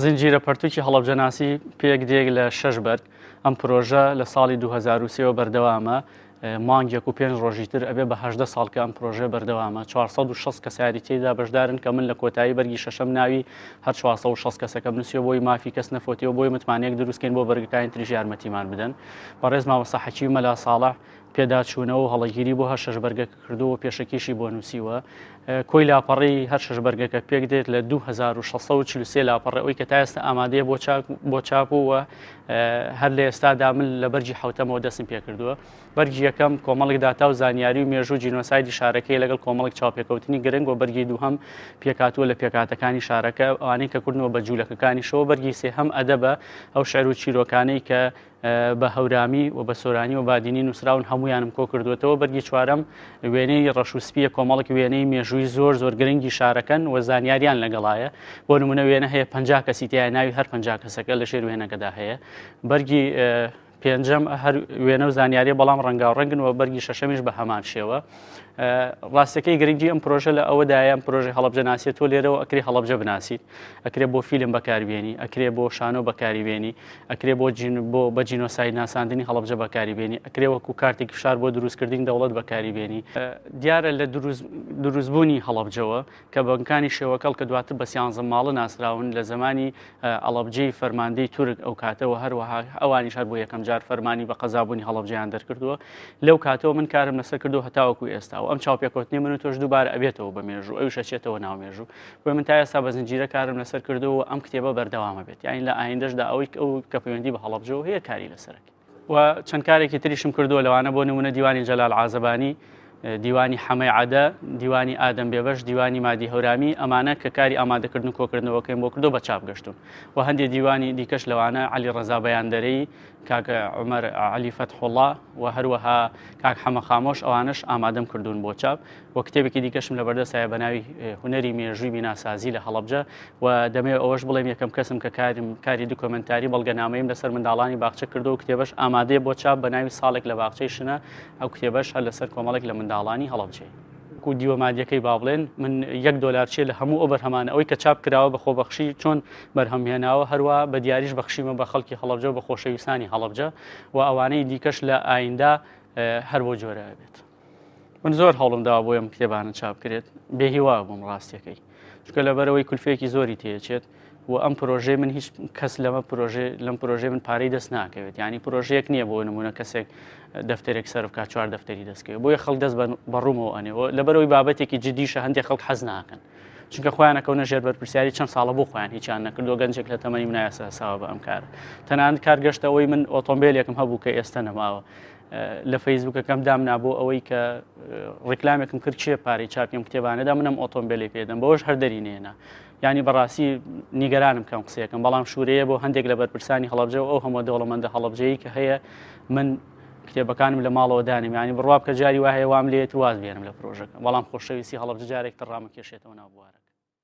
زنجیرە پەرتوکی هەڵەبجەناسی پێک دێک لە شەش بەرد ئەم پرۆژە لە ساڵی 2023ەوە بەردەوامە مانگێک و پێنج ڕۆژی تر ئەبێ بە هەدە ساڵکە ئەم پرۆژێ بەردەوامە 460 کەساری تێدا بەشدارن کە من لە کۆتایی بەرگی شەشەم ناوی هەر 460 کەسەکە نووسێ بۆی مافی کەس نەفۆتیەوە بۆی متمانەیەک دروستکەین بۆ بەرگەکانی تریژ یارمەتیمان بدەن بەڕێز مامەسا حەکی مەلا ساڵح پێداچوونەوە و هەڵەگیری بۆ هەر شەش بەرگەکە کردووە و پێشەکیشی بۆ نووسیوە. کۆی لاپەڕەی هەر شەش بەرگەکە پێک دێت لە 2643 لاپەڕە ئەوی کە تا ئێستا ئامادەیە بۆ چاک بۆ چاپ و و هەر لە ئێستادا من لە بەرگی حوتەمەوە دەستم پێ کردووە. بەرگی یەکەم کۆمەڵێک داتا و زانیاری و مێژوو جینۆسایدی شارەکەی لەگەڵ کۆمەڵێک چاوپێکەوتنی گرنگ و بەرگی دووهەم پێکهاتووە لە پێکهاتەکانی شارەکە ئەوانەی کە کوردنەوە بە جوولەکەکانیشەوە بەرگی سێهەم ئەدەبە ئەو شعر و چیرۆکانەی کە بە هەورامی و بە سۆرانی و بادینی نووسراون هەمویانم کۆ کردوێتەوە بەرگی چوارەم وێنەی ڕەش و سپیە کۆمەڵک وێنەی مێژووی زۆر زۆر گرنگی شارەکەن و زانیاریان لەگەڵایە بۆ نمونە وێنە هەیە پ کەسی تیا ناوی هەر پ کەسەکە لە ژێر وێنەکەدا هەیە بەرگی پێنجەم هەر وێنە و زانیاری بەڵام ڕەنگاو ڕەنگن و بەرگی شەشەمیش بە هەمان شێوە. ڕاستەکەی گرنگی ئەم پرۆژە لە ئەوە دایان پرۆژە هەڵبجە ناسێت تۆ لێرەوە ئەکری هەڵبجە بناسیت ئەکرێ بۆ فیلم بەکاربیێنی ئەکرێ بۆ شانۆ بەکاریبیێنی ئەکرێ بۆ جین بۆ بە جینۆسای ناساندنی هەڵبجە بەکاریبیێنی ئەکرێ وەکو کارتێک فشار بۆ دروستکردنی دەوڵەت بەکاریبیێنی دیارە لە دروستبوونی هەڵبجەوە کە بەگەکانی شێوەکەڵ کە دواتر بە سیانزە ماڵە ناسراون لە زەمانی ئەڵەبجەی فەرماندەی تورک ئەو کاتەوە هەروەها ئەوانیش هەر بۆ یەکەم جار فەرمانی بە قەزابوونی هەڵەبجەیان دەرکردووە لەو کاتەوە من کارم لەسەر کردو هەتاوەکو ئێستا و ئەم چاوپێکوتنی من و تۆش دووبارە ئەبێتەوە بە مێژوو ئەوش ئەچێتەوە ناو مێژوو بۆ من تا ئێستا بە زنجیرە کارم لەسەر کردو و ئەم کتێبە بەردەوامە بێت یاین لە ئایندەشدا ئەوەی ئەو کە پەیوەندی بە هەڵەبجەوە هەیە کاری لەسەرەکە و چەند کارێکی تریشم کردووە لەوانە بۆ نمونە دیوانی جەلال عازبانی دیوانی حەمەی عادە دیوانی ئادەم بێبەش دیوانی مادی هەورامی ئەمانە کە کاری ئامادەکردن و کۆکردنەوەکەیم بۆ کردو بە چاپ گەشتون و هەندێک دیوانی دیکەش لەوانە علی ڕزا بەیاندەرەی کاکە عمر علی فەتحوڵا و هەروەها کاک حەمە خامۆش ئەوانش ئامادەم کردوون بۆ چاپ و کتێبێکی دیکەشم لەبەردەستایە بە ناوی هوەری مێژووی بیناسازی لە هەڵبجە و دەمێ ئەوەش بڵێم یەکەم کەسم کە کارم کاری دوکۆمنتاری بەڵگەنامەیم لەسەر منداڵانی باخچە کردو و کتێبش ئامادەیە بۆ چاپ بە ناوی ساڵێک لە باخچەی شنە ئەو کتێبەش هەر لەسەر کۆمەڵێک لە منداڵانی هەڵبجێ. و دیوە مادیەکەی با بڵێن من یەک دۆلار چێ لە هەموو ئەو بەرهەمانە ئەوی کە چاپ کراوە بە خۆبەخشی چۆن بەرهەمهێناوە هەروە بە دیاریش بەخشیمە بە خەڵکی هەڵبجە بە خۆشەویستانی هەڵبجە و ئەوانەی دیکەش لە ئایندا هەر بۆ جۆرە بێت. من زۆر هەوڵم داوا بۆ ئەم کتێبانە چاپکرێت بێهیوا بووم ڕاستەکەی چکە لەبەرەوەی کولفێکی زۆری تێچێت و ئەم پرۆژەی من هیچ کەس لەمە پرۆژێ لەم پرۆژێ من پارەی دەست ناکەوێت ینی پرۆژەیەک نییە بۆ نمونە کەسێک دەفتێک سەرفکە چوار دەفتەری دەستکەوێت بۆیە خەڵ دەست بەڕوومەوە ئەنێەوە لەبەرەوەی بابەتێکی جدیشە هەندێک خەڵک حەز ناکەن چونکە خۆیان ئەکەونە ژێر بەرپرسیاری چەند ساڵە بۆ خۆیان هیچیان نەکردو گەنجێک لە تەمەنی منایاسەساوە بە ئەم کار تەنان کارگەشتەوەی من ئۆتۆمبیلێکم هەبوو کە ئێستا نەماوە لە فەیسبوکەکەم دامنا بۆ ئەوەی کە ڕیکلامێکم کرد چێ پارەی چاپیم کتێبانەدا منم ئۆتۆمبیلی پێدەم بەوەش هەردەری نێنا ینی بەڕاستی نیگەرانم کەم قسەکەم بەڵام شوورەیە بۆ هەندێک لە بەرپرسانی هەڵبجە و ئەو هەمە دەوڵەمەندە هەڵبجەیە کە هەیە من کتێبەکانم لە ماڵەوە دانم ینی بڕوا بکە جاری وایە وام لێت واز بێنم لە پرۆژەکە بەڵام خۆشەویستی هەڵبجارێک تڕامە کێشێتەوە ناوبوارە